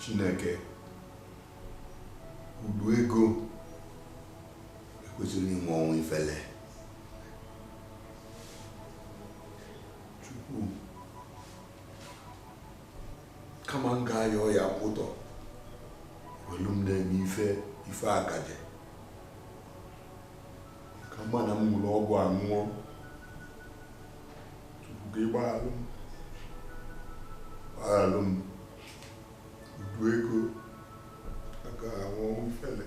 Chineke udu ego ekwesịrọ ịnwụ ọnwụ ifele Chukwu kama m ga-ayọ ya kwụtọ welu m na-eme ife ife akaje ka mma na m ṅụrụ ọgwụ nwụọ Chukwu gbaghalụ m gbaghalụ m udu ego aga anwụ ọnwụ ifele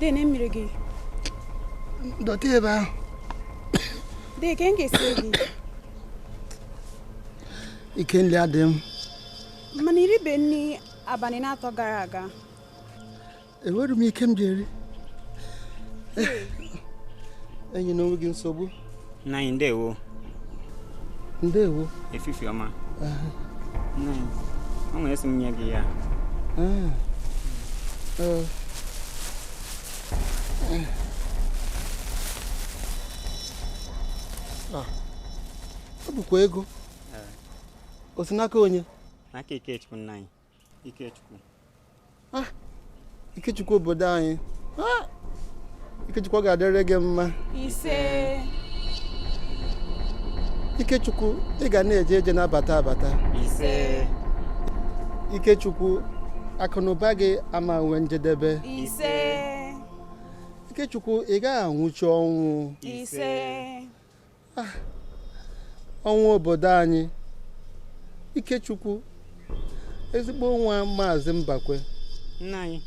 Dee nee mmiri gị. Dọte ebe ahụ. Dee ka m ga-esiri gị? Ike nri adịghị m. Mana i ribeghị nri abalị n'atọ gara aga. enwerọ m ike m ji eri enyena onwe gị nsogbu nna anyị ndewo ndewo efifi ọma nna anyị were a sị m nye gị ya ah. ah. ah. ọ bụkwa ego eh. o si n'aka onye n'aka Ikechukwu nna anyị Ikechukwu ah, Ikechukwu obodo anyị ah, Ikechukwu ọ ga-adịrị gị mma ise Ikechukwu ị ga na-eje eje na-abata abata ise Ikechukwu akụnụba gị ama nwe njedebe ise Ikechukwu ị gaghị anwụchi ọnwụ ise ah, ọnwa obodo anyị ikechukwu ezigbo nwa maazị mbakwe nna anyị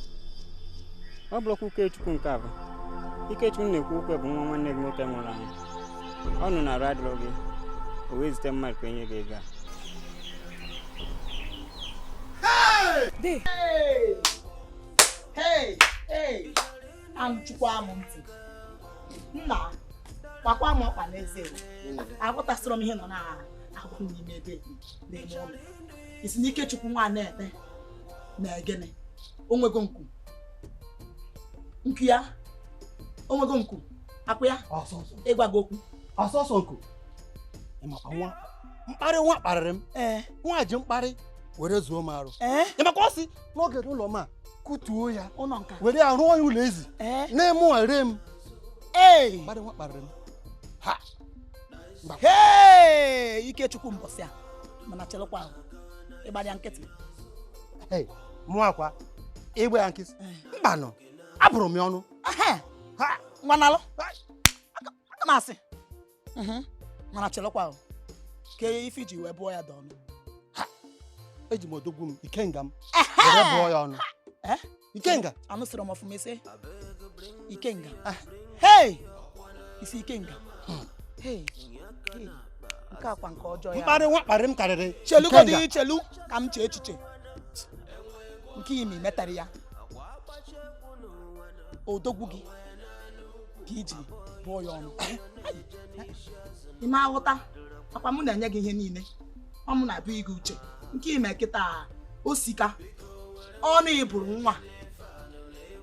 ọ bụrọkwa Ikechukwu nke ahụ ikechukwu m na-ekwu okwu ya bụ nwa nwanne gị nwoke nwụrụ anwụ ọ nụ na arụ adịrọ gị o wee zite mmadụ ka e nye gị ego a Hey! Hey! Hey! anụchukwa m ntị nna gbakwa m ọkpa n'eze aghọtasịrọ m ihe nọ na-ahụ n'ime ebe na-eme ụlọ ị sị na Ikechukwu nwa na-ete na egene onwego nku nku ya onwego nku akwụ ya ị gwa gị okwu sọsọ nku ịmakwa nwa mkparị nwa kparịrị m nwa ji mkparị were zuo m arụ ịmakwa ọ sị n'oge ụlọ ma kutuo ya ụlọ nka were ya rụọ ya ụlọ ezi eh? na-eme ere m ee mmadụ nwa kparịrị m ha ee ikechukwu mbọsị a mana chelụkwa ahụ ịgbara ya nkịtị mụwakwa ịgba ya nkịtị eh. mbanụ abụrụ m ya ọnụ nwanalụ aka m asị Mhm. mana chelekwa ahụ kee ife i ji wee bụọ ya dị ọnụ eji m odogwu m ikenga m were bụọ ya ọnụ Eh? ikenga anụsịrị m ọfụma ị sị ikenga Ah. hei ị sị ikenga hei hei. nke a kwa nke ọjọọ ya mkparị nwa kparị m karịrị chelugodi Ikenga. chelu ka m chee echiche nke i me metara ya odogwu gị ka i ji bụọ ya ọnụ ị ma aghọta akwa m na-enye gị ihe niile ọ mụ na-abụ gị uche nke i me kịta osika ọnụ ị bụrụ nwa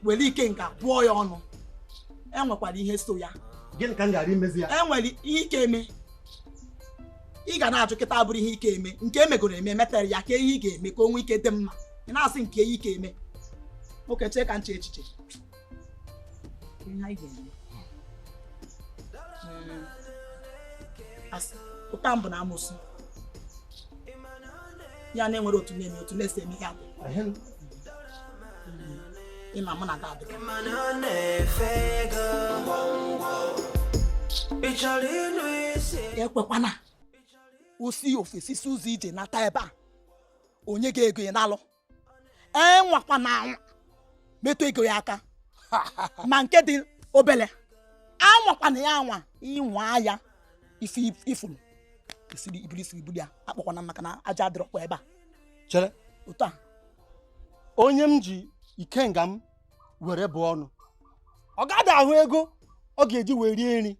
were ikenga bụọ ya ọnụ enwekwara ihe so ya gịnị ka m gara imezi ya enwere ihe ị ka-eme ị ga na-ajụ kịta abụrụ ihe ị ka-eme nke e megoro eme metara ya kee ihe ị ga-eme ka o nwee ike dị mma ị na-asị nke ihe ị ka-eme nwoke chee ka m chee echiche ụta mbụ na amụsụ ya na-enwere otu na-eme otu na-esi eme ihe abụ ịma mụ na ada adịghị ekwekwana o si ofesi si ụzọ ije nata ebe a onye ga-ego ị nalụ anwakwana anwa metụ ego ya aka ma nke dị obele anwakwana ya anwa ị nwaa ya isi ifuru isiri ibuli isiri ibuli ya akpọkwana maka na aja adịrọkwa ebe a chere otu a onye m ji ikenga m were bụọ ọnụ ọ gaghị ahụ ego ọ ga-eji wee rie nri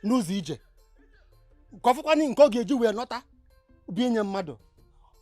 n'ụzọ ije nke ọ fụkwana nke ọ ga-eji wee lọta bi nye mmadụ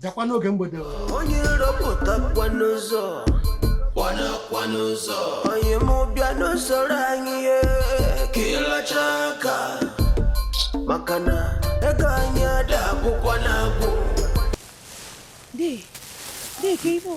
bịakwa n'oge mgbede onye rọpụtakwa n'ụzọ kwanakwa n'ụzọ onye mụ bịa n'usoro anyị ye ka ị lachaa aka maka na ego anyị ada akwụkwọ na-agwụ Dee, dee ka ife o.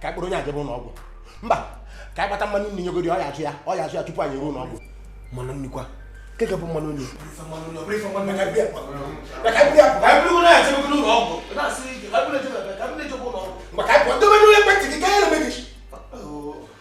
ka anyị kpọrọ onye a jebe ụlọ ọgwụ mba ka anyị gbata mmanụ nri nyegodi ọ ya ajụ ya ọ ya ajụ ya tupu anyị eruo ụlọ ọgwụ mmanụ nri kwa nke ga-abụ mmanụ nri maka anyị pụọ dobe n'ụlọ ekwentị gị ka ya na-eme gị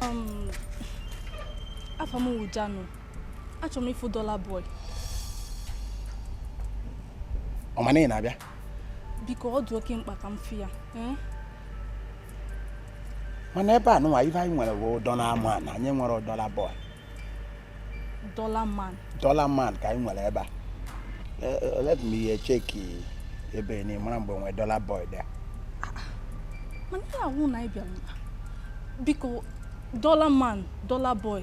Um, afa m wụ Jano. Achọrọ m ịfụ Dollar Boy. Ọ ma na ị na-abịa? biko ọ dị oke mkpa ka m fụ ya eh? mana ebe a nụnwa ife anyị nwere bụ Dollar Man anyị enwerọ Dollar Boy Dollar Man Dollar Man ka anyị nwere ebe a eh, eh, let me check ebe ni mara mgbe nwee Dollar Boy dị mana ihe awụ na ị bịara biko Dollar Man Dollar Boy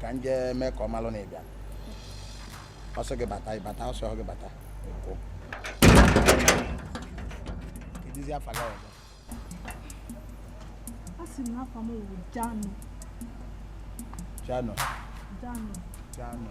ka m jee mee ka ọ malụ na ị bịa ọ sị gị bata ị bata ọ sị gị bata ị pụ kedụzi afa gị ọzọ asị m na afa m wụ Jano Jano Jano Jano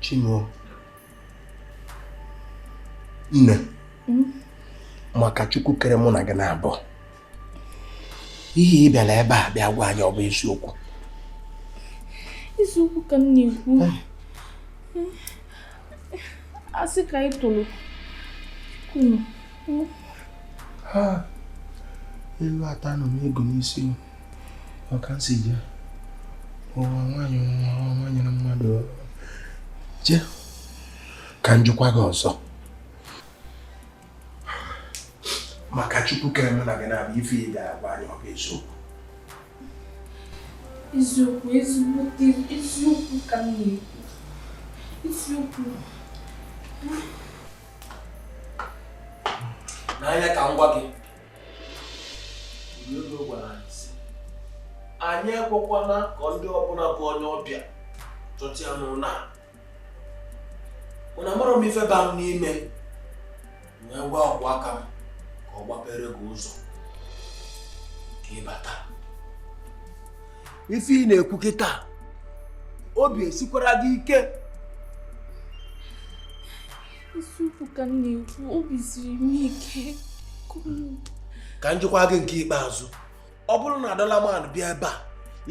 Chinwe nne hmm? maka Chukwu kere mụ na gị naabọ ihe ị bịara ebe a bịa gwa anyị ọ bụ eziokwu eziokwu ka m na-ekwu ah. asị ka anyị tụrụ kunu elu ata nọ m ego n'isi ọ ka m si je ụwa nwaanyị nwa nwaanyị na mmadụ je ka m jụkwa gị ọzọ maka Chukwu kere mụ na gị naabọ ife ị ga-agwa anyị ọ bụ eziokwu eziokwu ezigbo eziokwu ka m na-ekwu eziokwu n'anya ka m gwa gị ọga gwara anyị sị anyị ekwekwana ka ndị ọbụla bụ onye ọbịa chọta ya n'ụlọ a mana amarọ m ife ba m n'ime wee gwa ọkwụ aka m ka ọ gbapere gị ụzọ ka ị bata ife ị na-ekwu kịta obi esikwara gị ike eziokwu ka m na-ekwu obi siri m ike ka m jụkwa gị nke ikpeazụ ọ bụrụ na dollarman bịa ebe a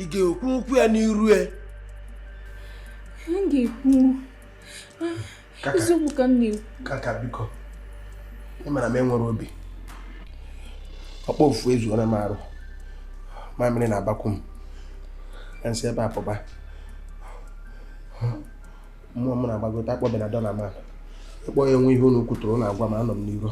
ị ga-ekwu okwu ya n'iru ya ga-ekwu eziokwu ka m na-ekwu kaka biko ị mara m enwere obi ọkpọ ofu ezuola m arụ mamịrị na-akpakwu m na nsị ebe a pụba mmụọ m na-agbagote akpọbịana dollarman ịkpọ ya enwe ihe unu kwutụrụ unu agwa m anọ m n'iro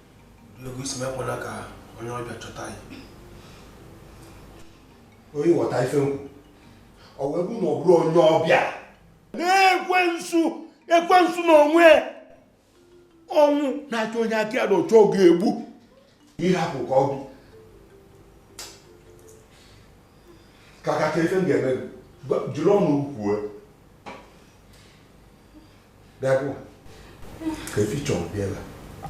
Logo isi mekwala ka onye ọbịa chọta ya. Onye ghọta ife m kwu. Ọ wee bụ na ọ bụrụ onye ọbịa. Na-ekwensu ekwensu n'onwe ọnwụ na-achọ onye aka ya dị ọcha ọ ga-egbu. Ịhapụ ka ọ bụ. Kaka ka ife m ga-eme ejirọ ọnụ ekwu ya. bịago kee ife ị chọrọ bịa ebe a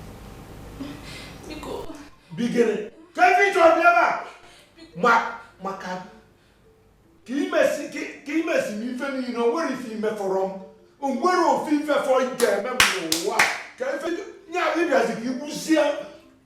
bigere kee ife ị chọrọ bịa ebe a ma maka ka imesi ka imesi m ife niile o nwere ife imefọrọ m o nwere ofu ife fọ ị ga-eme m n'ụwa kee ife nya ịbịazi ka igbuzie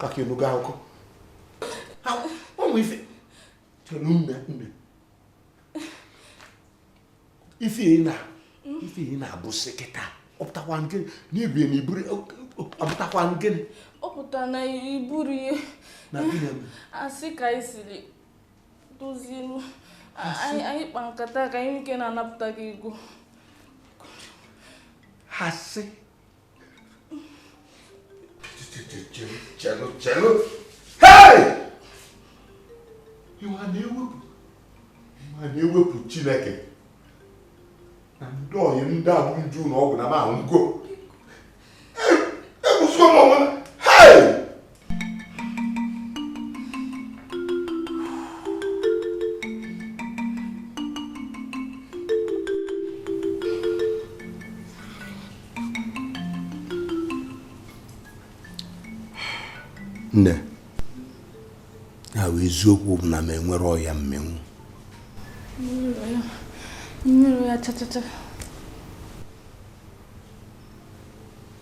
kaka ị nụgo akụkọ ụmụ ife chere nne nne ife ị na ife ị na-abụsị kịta ọpụtakwa nke n'ibie na iburu ọpụtakwa nke ọpụta na iburu ihe na gịnị asị ka anyị siri dozie anyị kpa nkata ka anyị nwee ike na-anapụta gị ego asị chelụ chelụ hei ịma na-ewepụ ịma na-ewepụ chineke na ndị ọyị m ndị abụ nju na ọgwụ na m ahụ ngo nne ya bụ eziokwu bụ na m enwere ọya mmịnwụ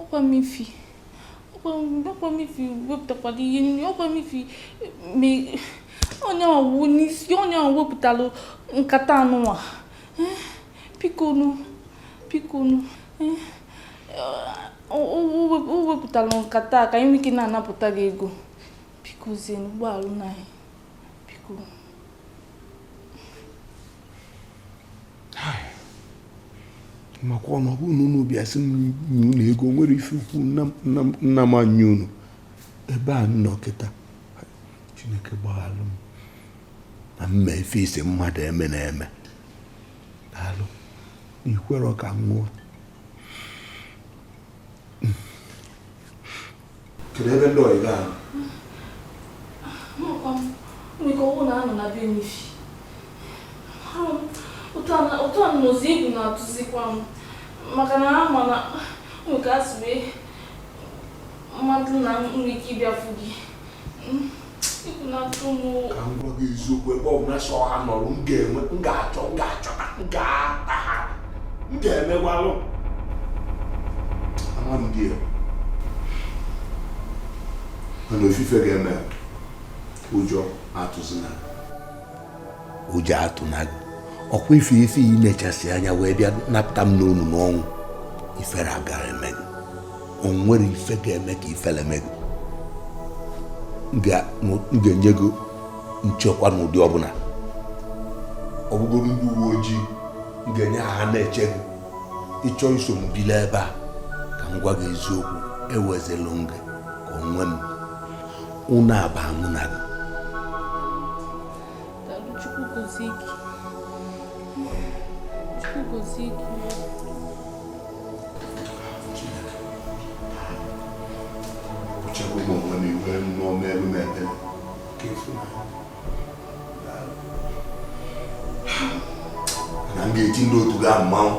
ọkwa m ifi ọkwa m ifi wepụtakwara ihe nri ọkwa m ifi onye ọwụ n'isi onye ọwụ wepụtara nkata anụnwa eh, bikonu bikonu eh, o wepụtara nkata ka anyị nwee ike na-anapụta gị ego biko zienụ gbaghalụnụ anyị biko makwa na ọ bụrụ na unu bịa sị m nye unu ego nwere ife ukwu nna m nye unu ebe a m nọ kịta chineke gbaghalụ m na m mee ife ị sị mmadụ emena eme daalụ ikwere ka m nwụọ kedu ebe ndị ọyị ga-anọ nwere ọwụ na anọ na be n'ifi ụtọ nnụzi egwu na-atụzikwa m maka na ha ma na nwere ka a sị wee mmadụ na nwere ike ịbịa fụ gị ka m gwa gị eziokwu ebe ọ bụla sọ ha nọrọ m ga-eme m ga-achọ m ga-achọta m ga-ata ha m ga-emegwalụ ama m ndị a mana ofu ife ga-eme ụjọ atụzina ụjọ atụna gị ọkwa ife ife i ji mechisie anya wee bịa napụta m n'ọnụ n'ọnwụ ifere agarọ eme gị o nwerọ ife ga-eme ka ifere mee gị m ga-enye gị nchekwa n'ụdị ọbụla ọ bụgodi ndị uwe ojii m ga-enye ha ha na-eche gị ị chọọ iso m bili ebe a ka m gwa gị eziokwu ewezilu m gị ka onwe m unu aba mụ na gị na m ga-eti ndị otu gị mmanwụ